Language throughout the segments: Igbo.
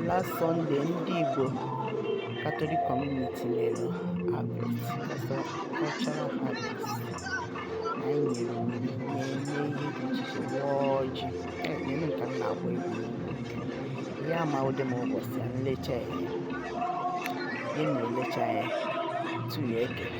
last Sunday ndị Igbo Catholic Community mere harvest cultural harvest na anyị nyere onyinye na-eme ihe dị iche iche waa ọjị na-eme nke m na-agba egwu ya ma ụdị m ụbọchị a nlecha ya gị na-elecha ya tuya ekele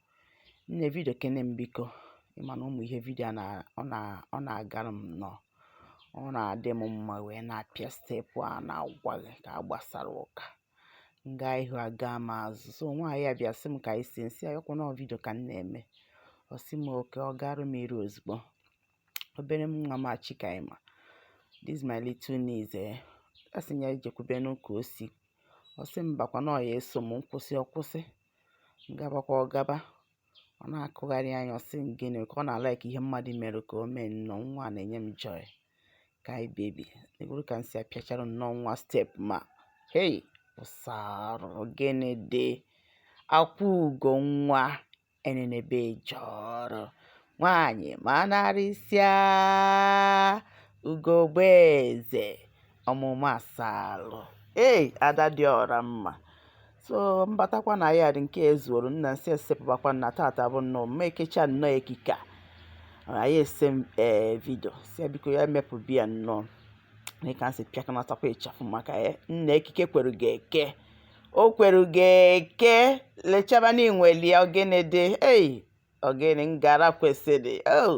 Nne video kene m biko ị ma na ụmụ ihe video a na ọ na ọ na-agara m nnọọ ọ na-adị m mma wee na-apịa step a na-agwa gị ka a gbasara ụka m gaa ihu aga m azụ so nwaanyị a bịa sị m ka anyị see m sị ya ọkwa na ọ video ka m na-eme ọ sị m okay ọ garụ m iru ozugbo obere m nwa m Chikaima this is my little niece eh a sị m ya jekwubenu ka o si ọ sị mbakwa na ọ ya-eso m m kwụsị ọ kwụsị gabakwa ọ gaba ọ na-akụgharị anya ọ sị gịnị ka ọ na-alike ihe mmadụ mere ka o mee nnọọ nwa na-enye m joy kai baby ị hụrụ ka m si apịachara nnọọ nwa step ma hei ụsarụ gịnị dị akwa ugo nwa enenebe eje ọrụ nwaanyị manarịsịa ugogbe eze ọmụma asalụ ee ada dị ọra mma so m batakwa na yard nke ezuoro nna m sị esepụbakwa na tata bụ nnọọ mma ekecha nnọọ ekike anyị ese ee eh, video sị ya biko ya mepụ biya nnọọ dịka m si pịakọnatakwa ịchafụ maka ya eh, nna ekike kwere gị eke o kwere gị eke lechaba na inweli ya ọ gịnị dị ei ọ gịnị ngara kwesịrị oh